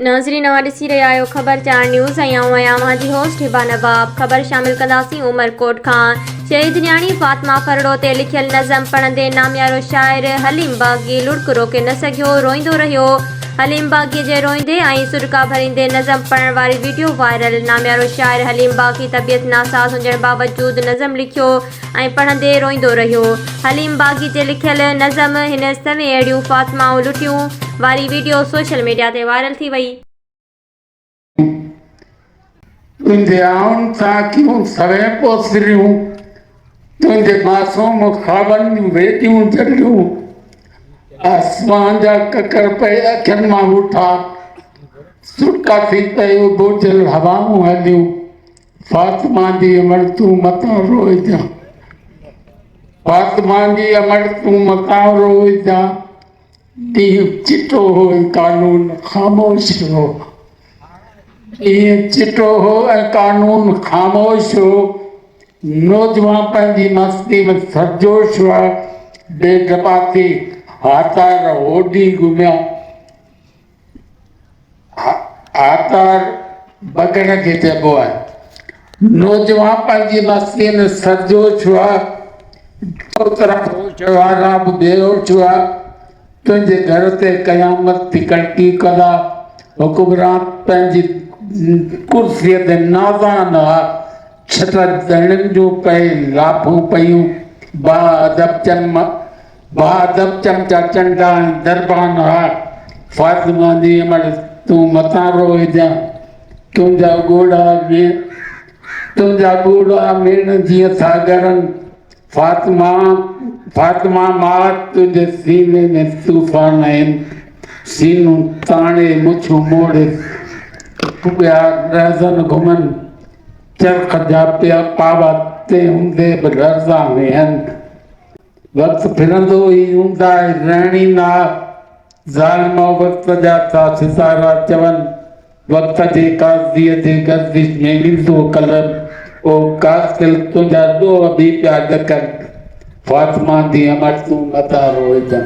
ناظرين اوهان ڏسي رهيا آهيو خبر چار نيوز ۽ آئون آهيان اوهان جي هوسٽ هبا نواب خبر شامل ڪنداسين عمر ڪوٽ کان شهيد نياڻي فاطمه ڦرڙو تي لکيل نظم پڙهندي ناميارو شاعر حليم باغي لڙڪ روڪي نه سگهيو روئيندو رهيو حليم باغي جي روئيندي ۽ سڏڪا ڀريندي نظم پڙهڻ واري ويڊيو وائرل ناميارو شاعر حليم باغي طبيعت ناساز هجڻ باوجود نظم لکيو ۽ پڙهندي روئيندو رهيو. حليم باغي جي لکيل نظم هن سوين اهڙيون فاطمائون لٽيون واري وڊيو سوشل ميڊيا تي وائرل ٿي وئي. تنهنجي آئن سان ڪيون سوين پوسريون، تنهنجي معصوم خوابن جون ويڏيون جڏيون، آسمان جا ڪڪر پئي اکين مان وٺا، سٽا ٿي پئي اٻوجهيل هوائون هليون. فاطمه جي امڙ تون متان روئجان فاطمه جي امڙ تون متان روئجان ڏينهن چٽو هو ۽ قانون خاموش هو ڏينهن چٽو هو ۽ قانون خاموش هو نوجوان پنهنجي مستي ۾ سرجوش هئا بي ڊپاتي هاتار هوڏي گهميا آتار بگڙ کي چئبو آهي نوجوان پنهنجي مستيء ۾ سرجوش هئا اوترا هوش وارا به بيهوش هئا تنهنجي گهر تي قيامت ٿي ڪڙڪي ڪندا حڪمران پنهنجي ڪرسيء تي نازان هئا ڇٽ ڌڻين جون پئي لاپون پيون با ادب چم بهادر چمچا چنڊا ۽ دربان ها فاطمه جي امڙ تون متان رو هجان تنهنجا ڳوڙها مين تنهنجا ڳوڙها مين جيئن ٿا ڳرن فاطمه فاطمه ماء تنهنجي سيني ۾ طوفان آهن سينون تاڻي مڇون موڙي ٻيا رهزن گهمن چرخ جا پيا پاوا تي هوندي به لرزان ويهن وقت ڦرندو ئي اونداهه رهڻي ناهه ظالم او وقت جا ٿا ستارا چون وقت جي قاضي جي گردش ۾ ايندو قلم او قاتل تنهنجا ڏوهه به پيا ڏڪن فاطمه جي امڙ تون نه ٿا روئجن.